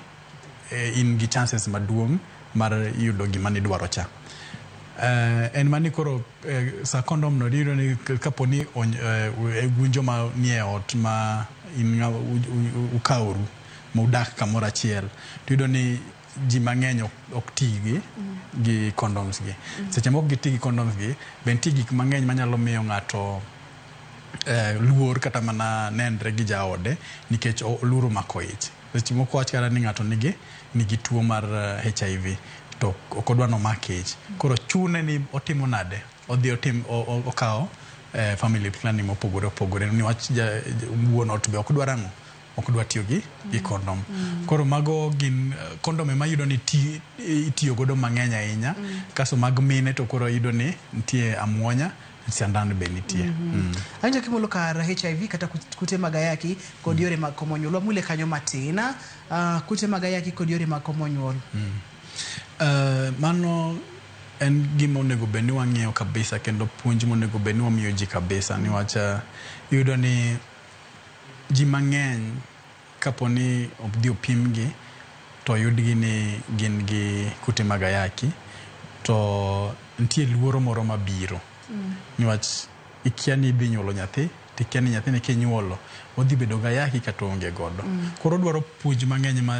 in gi chances maduong' mar yudo gima nidwaro cha. Uh, en mani koro uh, sa kondom no diyudo ni k- kapo ni ony- eh, gunjo ma nie ot ma in ng'a- u- u- u- ukaworu ma udak kamoro achiel tiyudo ni ji mang'eny ok, ok ti gi gi condoms gi seche moko giti gi condoms gi be nitie gik mang'eny manyalo miyo ng'ato eh, luor kata mana nenre gi jaode nikech o- luoro mako ich Seche moko wach kata ni ng'ato nigi nigi tuo mar HIV eh, to ok odwa nomak ich. Koro chune ni otimo nade? Odhi otim okawo eh, family planning mopogore opogore ni wach wuon ot be ok dwar ang'o? ok dwa tiyo gi gi kondom. Mm. Koro mago gin eh, kondom ema yudo ni ti, itiyo godo mang'eny ahinya. Mm. Kaso mag mine to koro yudo ni nitie amwonya Siandan be nitie. Mm -hmm. mm. Anjo kimolo kar HIV kata kute mag ayaki kod yore mag komo nyuol. Wamule kanyo matin. Uh, kute mag ayaki kod yore mag komo nyuol. Mm. Uh, mano en gima onego bed ni wang'eyo kabisa kendo puonj monego bed ni wamiyo ji kabisa niwach uh, yudo ni ji mang'eny Kapo ni odhi opimgi to oyudgi ni gin gi kute mag ayaki to nitie luoro moro mabiro niwach ikia ni idhi nyuolo nyathi to ikia ni nyathini kinyuolo odhi bedo gi ayaki kata oonge godo. Koro odwaro puonj mang'eny ma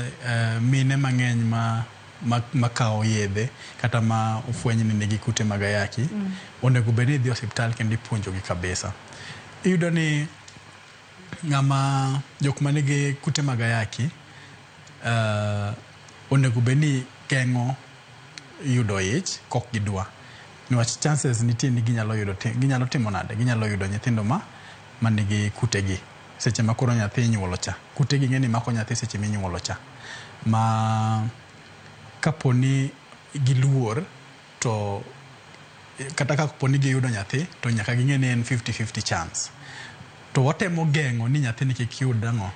mine mang'eny ma makawo yedhe kata ma ofweny ni nigi kute mag ayaki onego bed ni dhi osiptal kendo ipuonjogi kabisa. Iyudo ni Ng'ama jok ma nigi kute mag ayaki onego bed ni geng'o yudo ich kok gidwa niwach chances nitie ni ginyalo yudo ginyalo timo nade ginyalo yudo nyithindo ma manigi kute gi seche ma koro nyathi inyuolo cha kute gi ng'eni mako nyathi seche ma inyuolo cha ma kaponi giluor To kata ka po ni giyudo nyathi to nyaka ging'e ni en 50-50 chance. To watemo geng'o ni nyathini kik yud ang'o?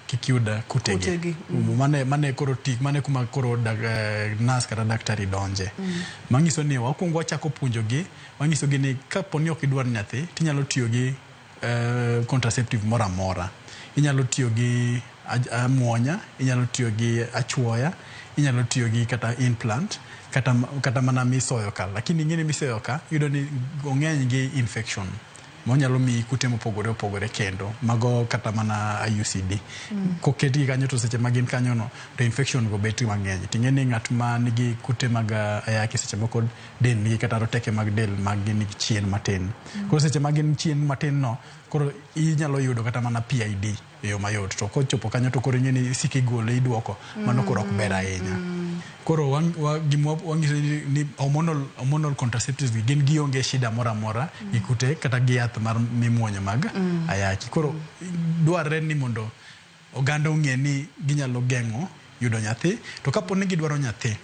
Kik yud kutegi. Kutegi, mm. Mane, mane koro tik, mane kuma koro dag, eh, nas kata daktari donje. Mm. Manyiso ni wakwongo wachako puonjogi, wanyisogi ni ka po ni ok idwar nyathi, tinyalo tiyo gi contraceptive moro amora. Inyalo tiyo gi amuonya, inyalo tiyo gi achuoya, inyalo tiyo gi kata implant kata kata mana misoyo ka. Lakini ing'eni misoyo ka iyudo ni ong'eny gi infection monyalo miyi kute mopogore opogore kendo mago kata mana IUCD. Koketgi kanyo to seche ma gin kanyono to infection go bet mang'eny. Ting'eni ng'at ma nigi kute mag ayaki seche moko dendgi kata roteke mag del mag gin chien matin. Mm. Koro seche ma gin chien matin no, koro inyalo yudo kata mana PID e yo mayot. To kochopo kanyo to koro ing'e ni isik igole idwoko, mano koro ok ber ahinya. Mm. Koro gima wang'iso ni hormonal, hormonal contraceptives gi gin gionge shida moro amora mm. gi kute kata gi yath mar mimuonyo mag mm. ayaki. Koro dwarre ni mondo oganda ong'e ni ginyalo geng'o yudo nyathi. To kapo ni gidwaro nyathi,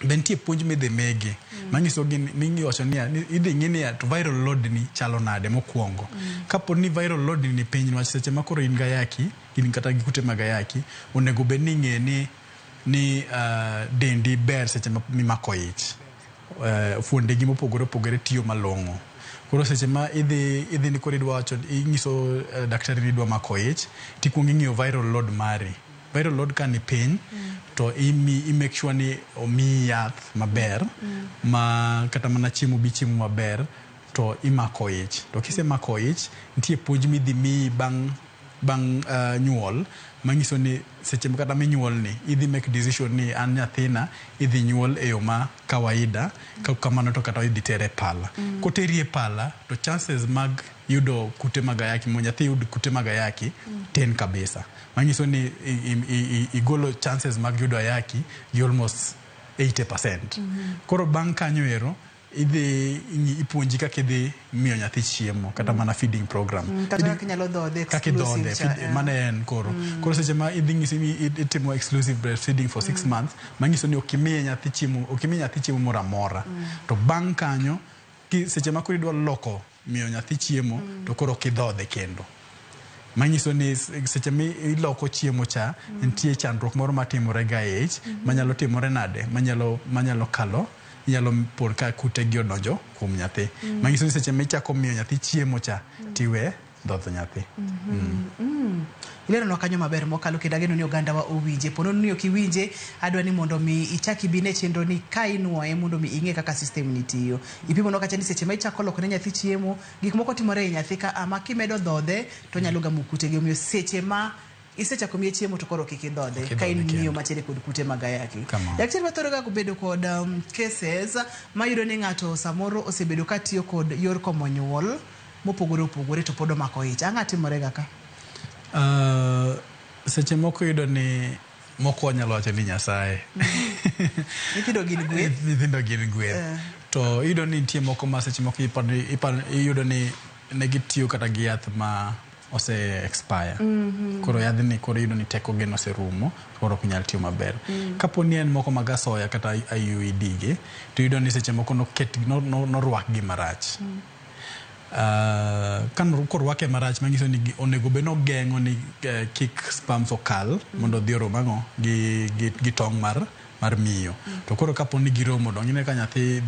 be nitie puonj midhi migi manyisogi ni- miwacho niya, ni idhi ng'i niya to viral load ni chalo nade mokwongo. Kapo ni viral load ni ni piny niwach seche ma koro in gayaki, in kata gi kute mag ayaki, onego bed ni ing'e ni ni ah, dendi ber seche ma- mimako ich. fuondegi mopogore opogore tiyo malong'o. Koro seche ma idhi idhi ni koro idwa wacho inyiso eh, daktari ni idwa mako ich, tikwongo ing'iyo viral load mari. Viral load ka ni piny to imi i make sure ni omiyi yath maber ma kata mana chiemo bi chiemo maber to imako ich. To kisemako ich, nitie puonj midhi miyi bang' bang' nyuol manyiso ni seche ma kata minyuol ni idhi make decision ni an nyathina idhi nyuol e yo ma kawaida ka ok kamano to kata idhi ter e pala. Koteri e pala to chances mag yudo kute mag ayaki mondo nyathi yud kute mag ayaki tin kabisa. Manyiso ni igolo chances mag yudo ayaki gi almost eighty percent. Koro bang' kanyo ero. idhi ing'i- ipuonji kaka idhi miyo nyathi chiemo kata mana feeding program Mm, kata Idi- kaka inyalo dhodhe kaka idhodhe exclusive cha, feed- yeah. mano en koro koro seche ma idhi ng'isi ni i- itimo exclusive breastfeeding for six months manyiso ni ok imiye nyathi chiemo ok imiye nyathi chiemo moro amora to bang' kanyo ki- seche ma koro idwa loko miyo nyathi chiemo to koro ok idhodhe kendo manyiso ni s- seche mi iloko chiemo cha nitie chandruok moro matimore ga e ich manyalo timore nade manyalo manyalo kalo nyalo pon ka kute gi odonjo kuom nyathi manyiso ni seche michako miyo nyathi chiemo cha tiwe dhodho nyathi ileronwa kanyo maber mokalo kendo ageno ni ogandawa owinje pono ni ok iwinje adwa ni mondo mi ichak ibine chenro ni ka inuoye mondo mi ing'e kaka system ni tiyo Ipimo no kacha ni seche ma ichako loko ne nyathi chiemo, gik moko timore e nyathi ka a ma kimedo dhodhe to onyalo gamo kute gi. Omiyo seche ma isechako miye chiemo to koro kik idhodhe ka in miyo matiere kod kute mag ayaki. Daktari wathoro ga bedo kod um, cases mayudo ni ng'ato samoro osebedo ka tiyo kod yor komo nyuol mopogore opogore to pod omako ich. Ang'a timore ga ka? Uh, seche moko yudo ni Moko wanyalo wacho ni Nyasaye. Nyithindo gin gweth. Nyithindo gin gweth. Eh. To iyudo ni nitie moko ma seche moko iyudo ni ne gitiyo kata gi yath ma ose expire mm -hmm. koro yadhni koro iyudo ni teko gen oserumo koro ok nyal tiyo maber mm -hmm. kapo ni en moko mag asoya kata IUED gi to iyudo ni seche moko noket norwakgi no, no marach mm -hmm. Korwake marach manyiso ni onego bed ni ogeng'o ni kik sperms okal mondo odhi orom ang'o gi tong' mar miyo. To koro kapo ni giromo donge ineno ka nyathi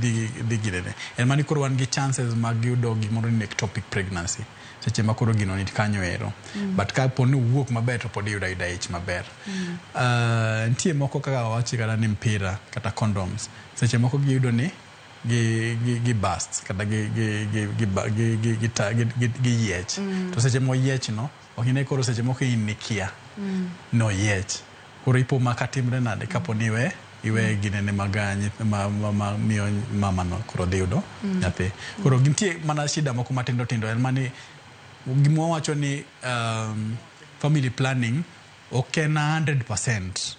dhi ginene. En mana ni koro wan gi chances mag yudo gimoro ni ectopic pregnancy seche ma koro gino nikanyo ero. But kapo ni owuok maber to pod iyudo ayuda ich maber. Nitie moko kaka awachi kata ni mpira kata condoms seche moko giyudo ni. gi gi gi bust kata gi gi gi gi ba- gi gi gi ta- gi- gi- gi yiech to seche moyiech no ok ine koro seche moko in nikia no yiech koro ipo ma ka timre nade kapo ni iwe iwe ginene mag ah, nyith- ma- ma- ma- miyo mama no koro dhi yudo nyathi koro gintie mana shida moko matindo tindo en mani gima wacho ni um, family planning Ok en a hundred percent.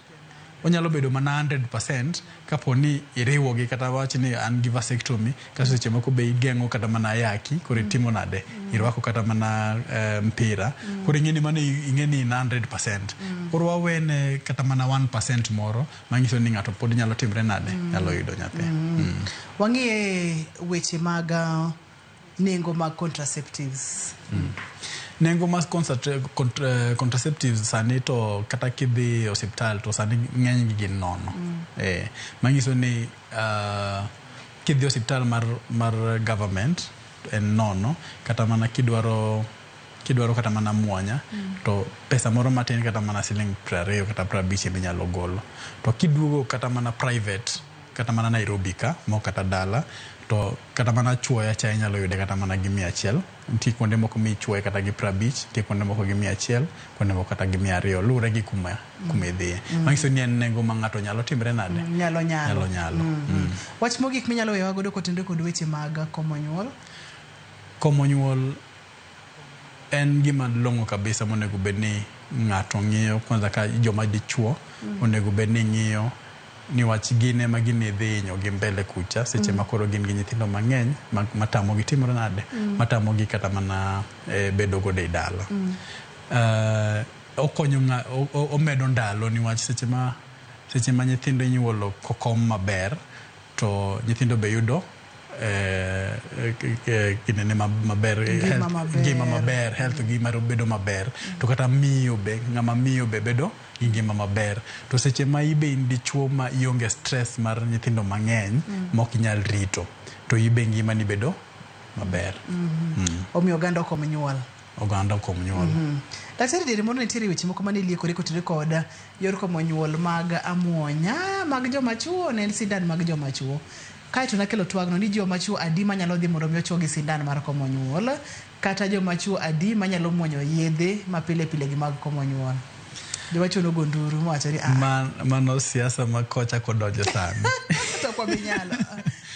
Onyalo bedo mana hundred percent kapo ni iriwogi kata wawach ni an gi vasectomy kaso seche moko be igeng'o kata mana ayaki koro itimo nade? Irwako kata mana eh, mpira koro ing'e ni mano i- ing'e ni in hundred percent. Koro wawene kata mana one percent moro manyiso ni ng'ato pod nyalo timre nade? Nyalo yudo nyathi. Wang'e weche mag ah, nengo mag contraceptives nengo mas concentra- cont- eh, contraceptives sani to kata kidhi e osiptal to sani ng'enygi gin nono eh, manyiso ni ah, kidhi e osiptal mar, mar government to en nono kata mana kidwaro kidwaro kata mana mwanya to pesa moro matin kata mana siling prariyo kata prabich ema inyalo golo to kiduogo kata mana private kata mana nairobi ka mok kata dala to Kata mana chuoyo achaya inyalo yude kata mana gi mia achiel. Nitie kuonde moko michuoye kata gi piero abich, nitie kuonde moko gi mia achiel, kuonde moko kata gi mia ariyo. Luwore gi kuma kuma idhiye. Mano nyiso ni en nengo ma ng'ato nyalo timre nade? Nyalo nyalo. Nyalo nyalo. Mm. Wach mogik minyalo weyowa godo kotenore kod weche mag komo nyuol. Komo nyuol En gima long'o kabisa monego bed ni ng'ato ng'iyo kwanza ka joma dichuo onego bed ni ng'iyo niwach gin ema gini dhi inyo gi mbele kucha seche ma koro gin gi nyithindo mang'eny ma- matamogi timore nade matamogi kata mana eh, bedo godo e dala Eh, okonyo ng'a- o- o- omedo ndalo niwach seche ma seche ma nyithindo inyuolo kokom maber To nyithindo be yudo kinene maber ngima maber health gi mar bedo maber to kata miyo be ng'ama miyo be bedo gi ngima maber to seche ma ibe in dichuo ma ionge stress mar nyithindo mang'eny mok inyal rito to ibe ngimani bedo maber. Omiyo oganda okom nyuol. oganda kuom nyuol. Daktari diere moro nitiere weche moko mane liekore kotire kod yor komo nyuol mag amuonya mag joma chuo ne en sindan mag joma chuo. Kae to nakelo twagno ni joma chuo adi manyalo dhi mondo mi ochuo gi sindan mar komo nyuol kata joma chuo adi manyalo muonyo yedhe ma pile pile gi mag komo nyuol. Joma chuo nogo nduru mowacho ni ah Man, mano siasa ma kocha kodonjo sani. to kwa binyalo.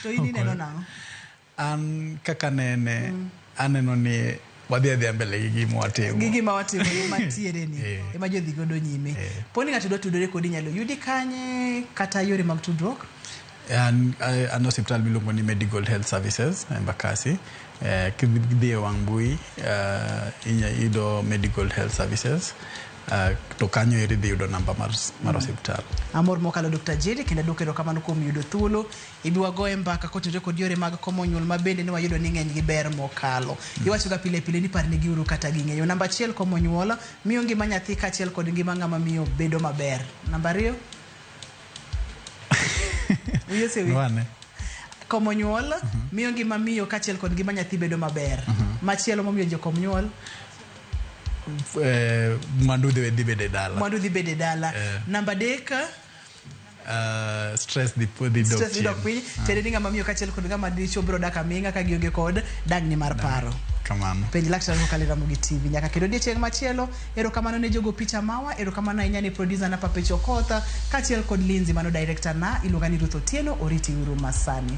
To in ineno nang'o? An kaka nene mm. aneno ni wadhi adhiya mbele gi gima watimo gi gima watimo gima tiere ni eh. ema jodhi godo nyime eh. poni ng'ato dwa tudore kodi nyalo yudi kanye kata yore mag tudruok an an hospital miluongo ni medical health services eh, embakasi eh, kidhi e wang' mbui uh, inya yudo medical health services Uh, to kanyo eri dhi yudo namba mar, mar mm. hospital. Amor mokalo Dr. Jiri kendo adwoko erokamano kuom yudo thuolo Ibi wagoye mbaka kotenore kod yore mag komo nyuol ma bende ne wayudo ni ng'eny gi ber mokalo. Mm. Iwachoga pile pile ni parne gi uru kata ging'eyo. Namba achiel komo nyuol miyo ngima nyathi kaachiel kod ngima ng'ama miyo bedo maber. Namba ariyo. Uyo sewi. Wane. Komo nyuol mm -hmm. miyo ngima miyo kaachiel kod ngima nyathi bedo maber. Mm -hmm. Machielo momiyo jokom nyuol eh, mwandu dhi bede dala. Mwandu dhi bede dala. Eh. Namba deka. Uh, stress the poor the dog. Stress the dog piny. Ah. Tere dinga mamiyo kachiel kod ngama dicho bro daka minga ka gionge kod dagni mar paro. Kamano. Penj laktar ko kalira mugi TV nyaka kendo die chieng machielo. Ero kamano ne jogo picha mawa, ero kamano ahinya ne producer na Pape Chokotha kachiel kod Lindsay mano director na iluonga ni Ruth Otieno oriti uru masani.